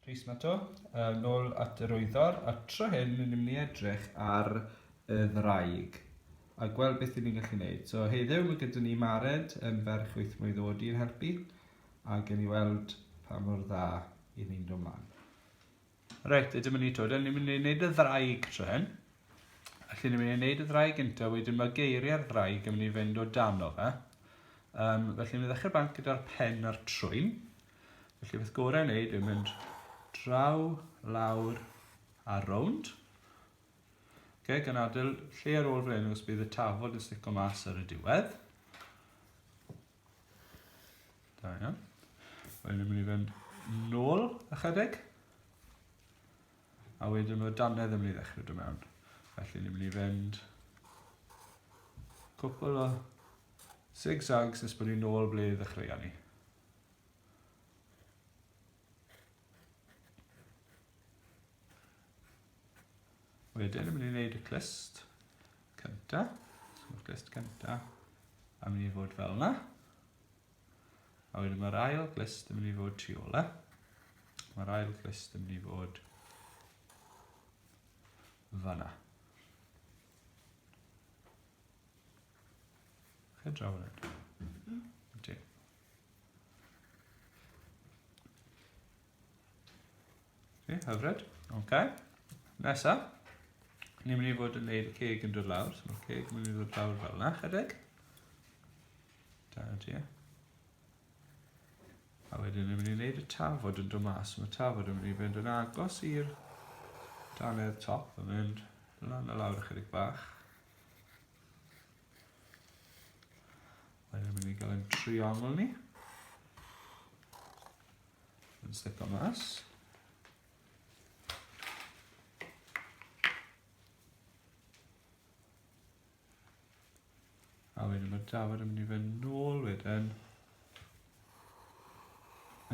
Rhys Mato, yn ôl at yr wyddor, a'r tro hyn ni'n mynd i edrych ar y ddraig a gweld beth ni'n gallu gwneud. So heddiw mae gyda ni Mared yn ferch wyth mlynedd oed i'n helpu a gen i weld pa mor dda i ni'n dod mlaen. Reit, ydym yn ei dod, ni'n mynd i wneud y ddraig tro hyn. Felly ni'n mynd i wneud y ddraig gyntaf, wedyn mae geiriau'r ddraig yn mynd i fynd o dan o fe. Um, felly ni'n mynd i ddechrau bant gyda'r pen a'r trwyn. Felly beth gorau yn wneud yw mynd draw, lawr a rownd. Okay, gan adael lle ar ôl fan hyn os bydd y tafod yn stico mas ar y diwedd. Da iawn. Wedyn yn mynd i fynd nôl ychydig. A wedyn mae danedd yn mynd i ddechrau dod mewn. Felly ni'n mynd i fynd cwpl o zigzags nes bod ni'n ôl ble ddechreuon ni. Wedyn yn mynd i wneud y clust cynta. So mae'r clust cynta yn mynd i fod fel yna. A wedyn mae'r ail clust yn mynd i fod tu ôl e. Mae'r ail clust yn mynd i fod fanna. Chydraw hwnna. Ie, hyfryd. Ok. Nesa. Ni'n mynd i fod yn gwneud y ceg yn dod lawr. So mae'r ceg yn mynd i fod lawr fel yna, chydig. Da ti, ie. A wedyn ni'n mynd i wneud y tafod yn dod mas. Mae tafod yn mynd i fynd yn agos i'r danedd top yn mynd lan a lawr ychydig bach. Mae'n mynd i gael ein triongl ni. Yn slipo mas. A wedyn mae Dafod yn mynd i fynd nôl wedyn.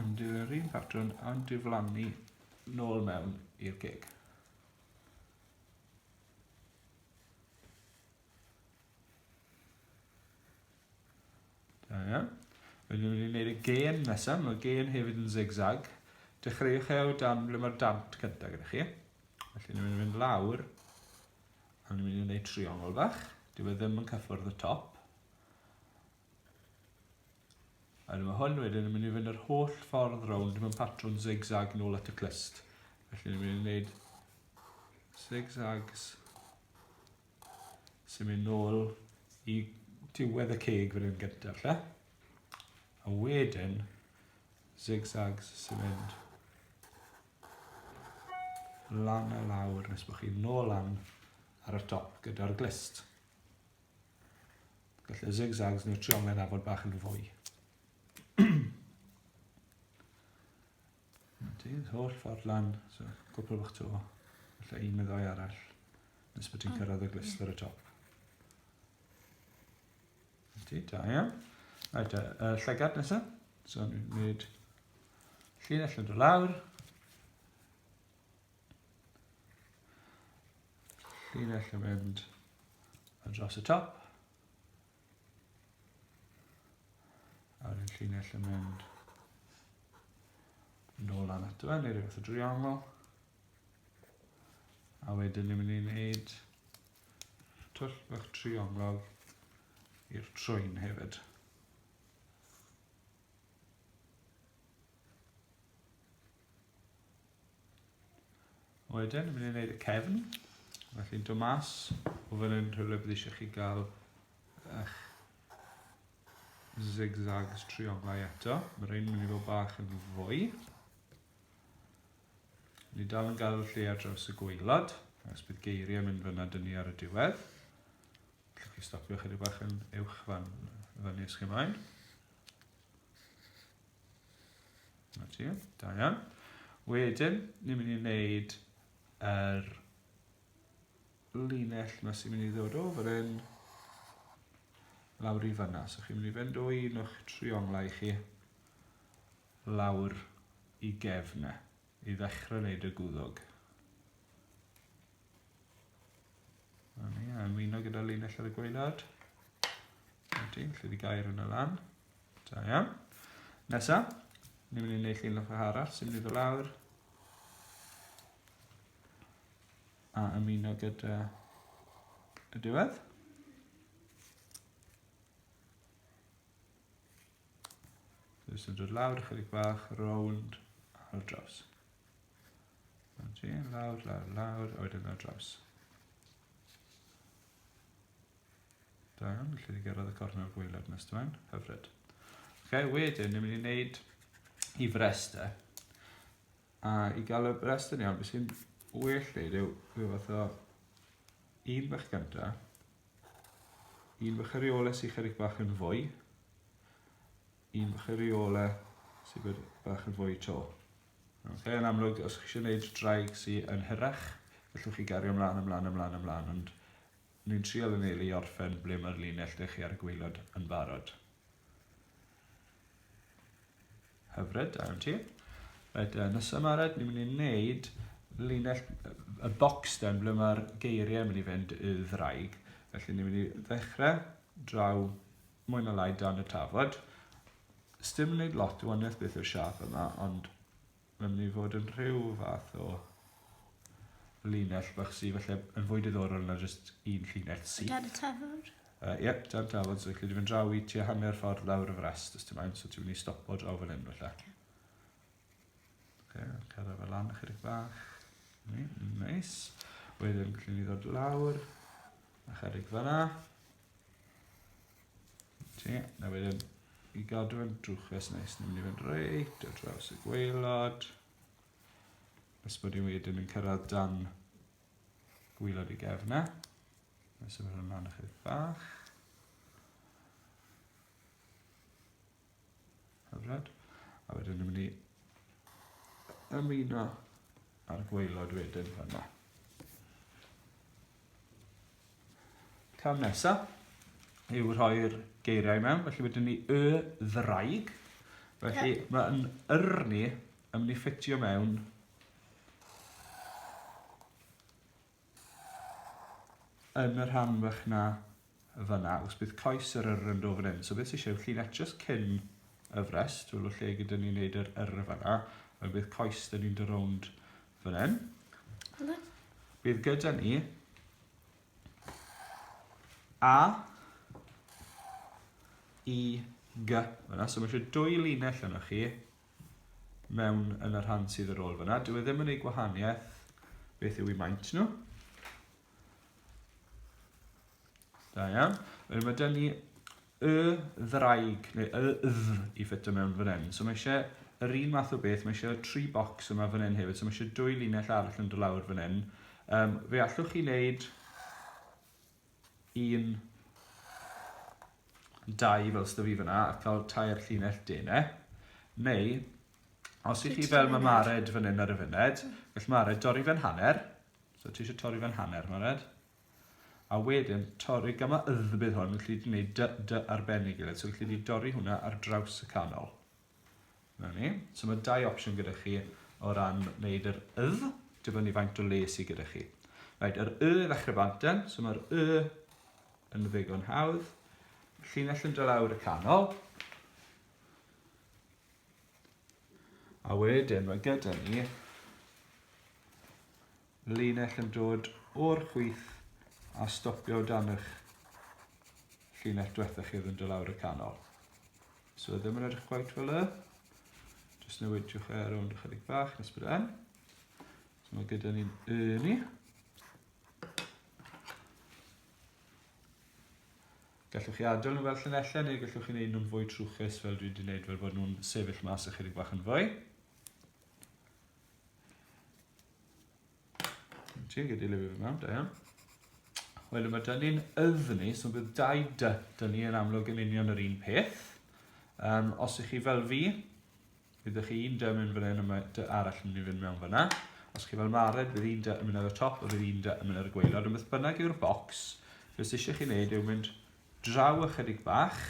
Yn dilyn yr un patrwn a'n diflannu nôl mewn i'r gig. Da iawn. Rydyn ni'n mynd i wneud y gên nesaf, mae'r gên hefyd yn zigzag. Dechreuwch e o dan ble mae'r dant cyntaf gyda chi. Felly ni'n mynd i fynd lawr, a ni'n mynd i wneud triongl bach. Dyw e ddim yn cyffwrdd y top. A dyma hwn wedyn yn mynd i fynd yr holl ffordd rownd mewn patrwn zigzag nôl at y clust. Felly ni'n mynd i wneud zigzags Symud nôl i diwedd y ceg fan hyn gyntaf, lle? A wedyn, zigzags sy'n mynd lan a lawr nes bod chi'n nôl lan ar y top gyda'r glist. Felly zigzags neu'r trionglyn a fod bach yn fwy. Dydd holl ffordd lan, so cwpl bach to, lle un neu ddau arall, nes bod ti'n cyrraedd y glist ar y top. Ydy, da iawn. Right, uh, llygad nesaf. So ni'n gwneud llinell yn dod lawr. Llinell yn mynd yn dros y top. Ar y llinell yn mynd nôl lan ato fe, neu rhywbeth o driongl. A wedyn ni'n mynd i wneud twll bach triongl i'r trwyn hefyd. Wedyn, yn mynd i'n neud y cefn. Felly'n dod mas o fan hyn rhywle bydd eisiau chi gael eich zigzags trionglau eto. Mae rhain yn mynd i fod bach yn fwy. Ni dal yn gael lle ar draws y gweilad, ac bydd geiriau mynd fyna dyn ni ar y diwedd. Gallwch chi stopio chydig bach yn uwch fan, fan nes chi ymlaen. Na ti, da iawn. Wedyn, ni'n mynd i wneud yr er linell yma sy'n mynd i ddod o fan hyn lawr i fanna. So chi'n mynd i fynd o un o'ch trionglau chi lawr i gefn e. i ddechrau wneud y gwddwg. A ni, a ymuno gyda linell ar y gwaelod. A ti, lle di gair yn y lan. Da iawn. Nesa, ni'n mynd i wneud llun ochr arall, sy'n mynd i lawr. A ymuno gyda y diwedd. Jyst yn dod lawr ychydig bach, rownd ar draws. Oce, lawr, lawr, lawr, a wedyn ar draws. Da iawn, felly ni gyrraedd y cornel fwy led nes dwe'n, hyfryd. Oce, wedyn, ni'n mynd i wneud i frestau. A i gael y brestau ni, ond beth sy'n well neud yw rhyw fath o un bach gyntaf, Un bach ariola sy'n chydig bach yn fwy. Un bach ariola sy'n bod bach yn fwy to. Okay, yn amlwg, os chi eisiau gwneud draig sy'n yn hyrach, gallwch chi gario ymlaen, ymlaen, ymlaen, ymlaen, ond ni'n trial yn eili orffen ble mae'r linell dych chi ar y gweilod yn barod. Hyfryd, da iawn ti. Right, uh, nesaf yma, right, ni'n mynd i wneud linell y bocs den, ble mae'r geiriau yn mynd i fynd i ddraig. Felly ni'n mynd i ddechrau draw mwy na lai dan y tafod. Sdim yn gwneud lot o waniaeth beth yw'r siap yma, ond mae'n mynd i fod yn rhyw fath o linell bach sydd felly yn fwy diddorol na jyst un llinell sydd. Dan y tafod? Yy yep, jar tafod, so lle dwi fynd draw i tua hanner ffordd lawr y frest, os ti'n moyn, so ti'n mynd i stopo draw fan hyn, felly. Okay. Okay, cyrra fe lan ychydig bach. Ni, nice. Wedyn, gallwn ni ddod lawr, a chydig fanna. Ti, na wedyn, i gadw fe'n drwchus neis, ni'n mynd i fynd reit o draws y gweilod. Nes bod ni wedyn yn cyrraedd dan gwylod y gefna. Mae'n symud hwn ymlaen ychydig bach. Hyfryd. A wedyn ni'n mynd i ymuno a'r gweilod wedyn fanna. Cam nesaf yw rhoi'r geiriau mewn, felly wedyn ni y ddraig. Felly yeah. mae'n yrni yn mynd i ffitio mewn Yn y rhan fach 'na, fan'na, os bydd croes yr yr yn do fan hyn. So beth sy'n eisiau yw llinell just cyn y frest, wel o lle gyda ni wneud yr yr fan'na, wel bydd croes dyn ni'n dy rownd fan hyn. Bydd gyda ni A, I, G, fan'na. So mae eisiau dwy linell yna chi, mewn yn y rhan sydd yr ôl fyna. Dwi e ddim yn ei gwahaniaeth beth yw i maint nhw. Da iawn. Wedyn mae dyn ni y ddraig, neu y dd i ffitio mewn fan hyn. So mae eisiau yr un math o beth, mae eisiau tri bocs yma fan hyn hefyd, so mae eisiau dwy linell arall yn dod lawr fan hyn. Um, fe allwch chi wneud un, dau fel sydd fi fyna, a cael tair llinell dene. Neu, os ydych chi fel mae Mared fan hyn ar y fyned, gall Mared dorri fe'n hanner. So ti eisiau torri fe'n hanner, Mared. A wedyn, torri gyma ydd bydd hwn, gallu gwneud dy, dy arbennig i So gallu di dorri hwnna ar draws y canol. 'Na ni. So mae dau opsiwn gyda chi o ran wneud yr ydd, dibynnu faint o le sydd gyda chi. Right, yr y ddechrau bant yn, so mae'r y yn ddigon hawdd. Llinell yn dylawr y canol. A wedyn mae gyda ni linell yn dod o'r chwith a stopio o dan ych llinell dwetha chi oedd yn do lawr y canol. So ddim yn edrych quite fel y. Just newidiwch e ar ond ychydig bach nes bod yn. So mae gyda ni'n y ni. Gallwch chi adael nhw fel llunellau neu gallwch chi wneud nhw'n fwy trwchus fel dwi wedi wneud fel bod nhw'n sefyll mas ychydig bach yn fwy. Ti'n gyda lyfr yma, da iawn. Wel, mae dyn ni'n yddni, so bydd dau dy, dyn ni yn amlwg yn union yr un peth. Um, os ych chi fel fi, bydd ych chi un dy yn mynd fan hyn a mae dy arall yn mynd i fynd mewn fyna. Os chi fel Mared, bydd un dy yn mynd ar y top a bydd un dy yn mynd ar y gweilod. Ond beth bynnag yw'r bocs, beth sydd eisiau chi wneud yw mynd draw ychydig bach,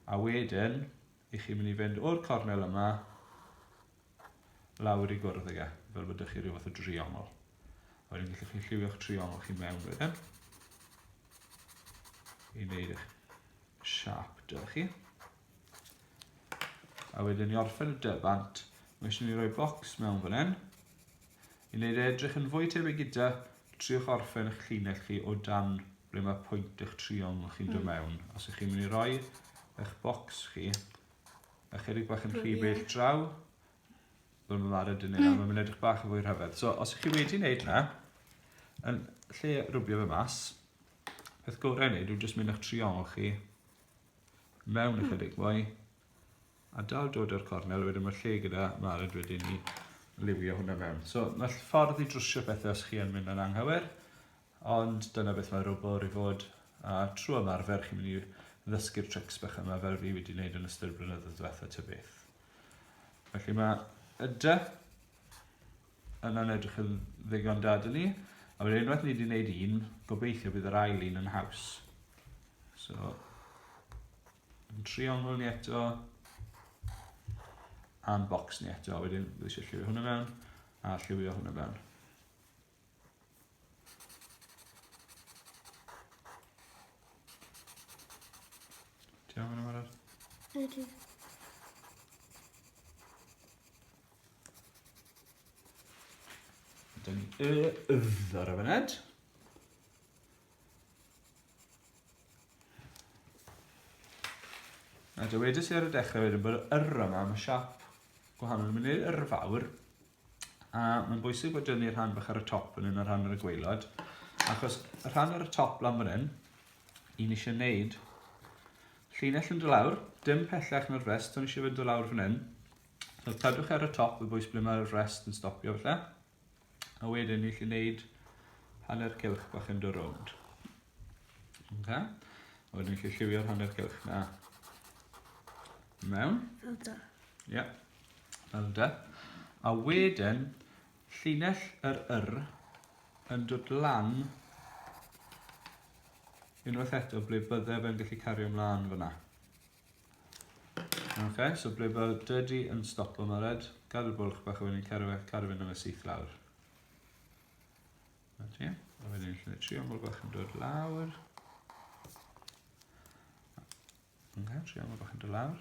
a wedyn, i chi mynd i fynd o'r cornel yma, lawr i gwrdd ag e, fel bod ydych chi rhyw fath o driongl. A wedyn gallwch chi lliwio'ch triongl chi mewn wedyn. I wneud eich siap da chi. A wedyn i orffen y dybant, mae eisiau ni roi bocs mewn fan hyn. I wneud e edrych yn fwy tebyg gyda, triwch orffen eich llinell chi o dan ble mae pwynt eich triongl chi'n dod hmm. mewn. Os ych chi'n mynd i roi eich bocs chi A chydig bach yn rhy bell draw. Wel, mae'n marw dyn ni na, mae'n edrych bach yn fwy rhyfedd. So, os ych chi wedi wneud na, yn lle rwbio fe mas, peth gorau wneud yw jyst mynd â'ch triongl chi mewn ychydig hmm. mwy, a dal dod o'r cornel, wedyn mae lle gyda marad wedyn ni liwio hwnna mewn. So mae ffordd i drwsio pethau os chi yn mynd yn anghywir, Ond dyna beth mae rwbwr i fod, a trwy ymarfer chi'n mynd i ddysgu'r trics bach yma fel fi wedi wneud yn ystod y blynyddoedd diwetha ta beth. Felly mae y dy yna'n edrych yn ddigon da dyn ni, a wedyn unwaith ni wedi gwneud un, gobeithio bydd yr ail un yn haws. So, yn triongl ni eto, a'n bocs ni eto, wedyn bydd eisiau lliwio hwnna mewn, a lliwio hwnna mewn. Ti'n iawn fan arall? Ydy. Dyna ni y ydd ar y fyned. A dywedais i ar y dechrau wedyn bod yr yma, mae siap gwahanol yn mynd i'r yrfawr. A mae'n bwysig bod dynnu rhan bach ar y top fan hyn a rhan ar y gweilod. Achos y rhan ar y top lan fan hyn, un eisiau wneud llinell yn dod lawr, dim pellach na'r rest, ond eisiau fynd o lawr fan hyn. So cadwch ar y top y bwys ble mae'r rest yn stopio falle. A wedyn ni eisiau wneud hanner cilch bach yn dod rownd. Okay. A wedyn ni eisiau lliwio'r hanner cilch na mewn. Ie. Yeah. Fel yda. A wedyn, llinell yr yr yn dod lan unwaith eto ble bydde fe'n gallu cario ymlaen fyna. Ok, so ble bod dydy yn stop am red, gadw'r bwlch bach o wedyn cario fe, cario fe nôl syth lawr. Na ti, a wedyn lle tri aml bach yn dod lawr. Ok, tri aml bach yn dod lawr.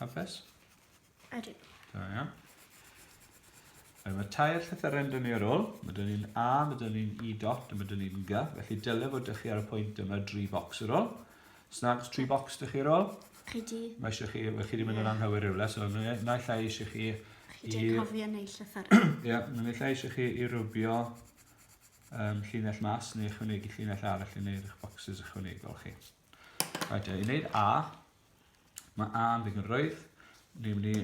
Hapus? Ydw. Da iawn. Mae tair llythyren dyn ni ar ôl. Mae dyn ni'n A, mae dyn ni'n E dot, a mae dyn ni'n G. Felly dylai fod dych chi ar y pwynt yma dri bocs ar ôl. Snags, tri bocs dych chi ar ôl. Ydy. Mae eisiau chi, chi wedi mynd yn anghywir rhywle, so na llai eisiau chi... Chi wedi cofio neu llythyren. Ie, mae'n llai eisiau chi i rwbio um, llinell mas neu ychwanegu llinell arall yn eich bocsys ychwanegol chi. Reit, i wneud A, mae A yn ddigon rwydd. Ni'n mynd i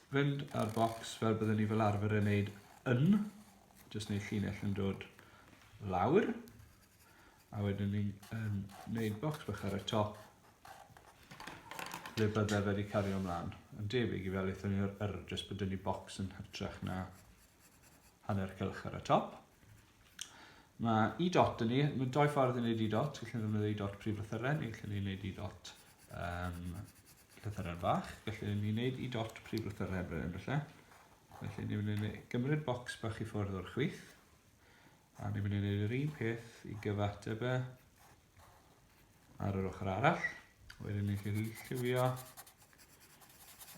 fynd ar bocs fel byddwn ni fel arfer yn wneud yn. Just wneud llinell yn dod lawr. A wedyn ni'n um, wneud bocs bach ar y top ble byddai wedi cario ymlaen. Yn debyg i fel eithon ni o'r yr, just byddwn ni bocs yn hytrach na hanner cylch ar y top. Mae i dot yn ni, mae doi ffordd yn gwneud i dot, gallwn ni ddefnyddio i dot prif lythyren, neu gallwn ni wneud i dot um, llythyren fach, gallwn ni wneud i dot prif lythyren bryn felly. Felly ni'n mynd i gymryd bocs bach i ffwrdd o'r chwith, a ni'n mynd i wneud yr un peth i gyfateb e ar yr ochr arall. Wedyn ni'n gallu lliwio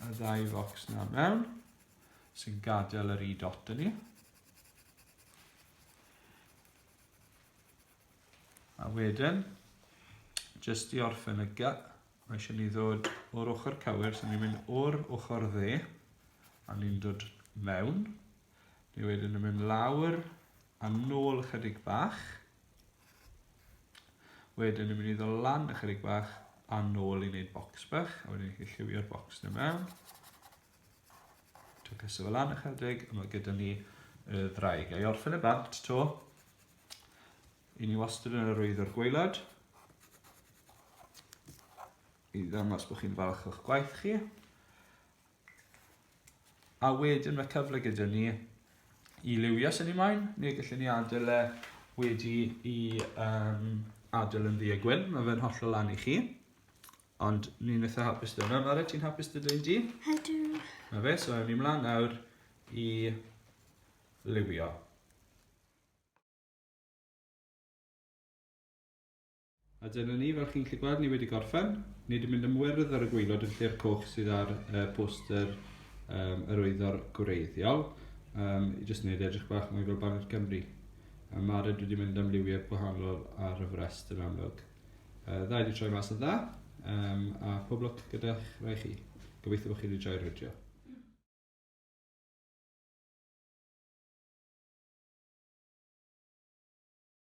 y ddau focs na mewn, sy'n gadael yr i dot yn ni. A wedyn, jyst i orffen y ga, mae eisiau ni ddod o'r ochr cywir, so ni'n mynd o'r ochr dde, a ni'n dod mewn. Ni wedyn yn mynd lawr a nôl ychydig bach. Wedyn ni'n mynd i ddod lan ychydig bach a nôl i wneud bocs bach, a wedyn ni'n gallu lliwio'r bocs na mewn. Dwi'n pwyso fo lan ychydig a mae gyda ni y ddraig. A i orffen y bant to, i ni wastad yn arwyddo'r gweilad i ddangos bod chi'n falch o'ch gwaith chi. A wedyn mae cyfle gyda ni i liwio sy'n ei maen, neu gallwn ni adael e wedi i um, adael yn ddi a gwyn, mae fe'n hollol lan i chi. Ond ni'n eitha hapus dweud hwnna. Lara, ti'n hapus dweud hwnna di? Ydw. Na fe, so ewn ni mlaen nawr i liwio. A dyna ni, fel chi'n gallu gweld, ni wedi gorffen. Ni wedi mynd am wyrdd ar y gwylod yn lle'r coch sydd ar uh, poster um, yr oeddo'r gwreiddiol. Um, I jyst wneud edrych bach mwy fel Baned Cymru. A Mara dwi wedi mynd am liwiau gwahanol ar y frest yn amlwg. Uh, dda wedi troi mas yn dda, um, a pob lwc gyda'ch rai chi. Gobeithio bod chi wedi joio'r fideo.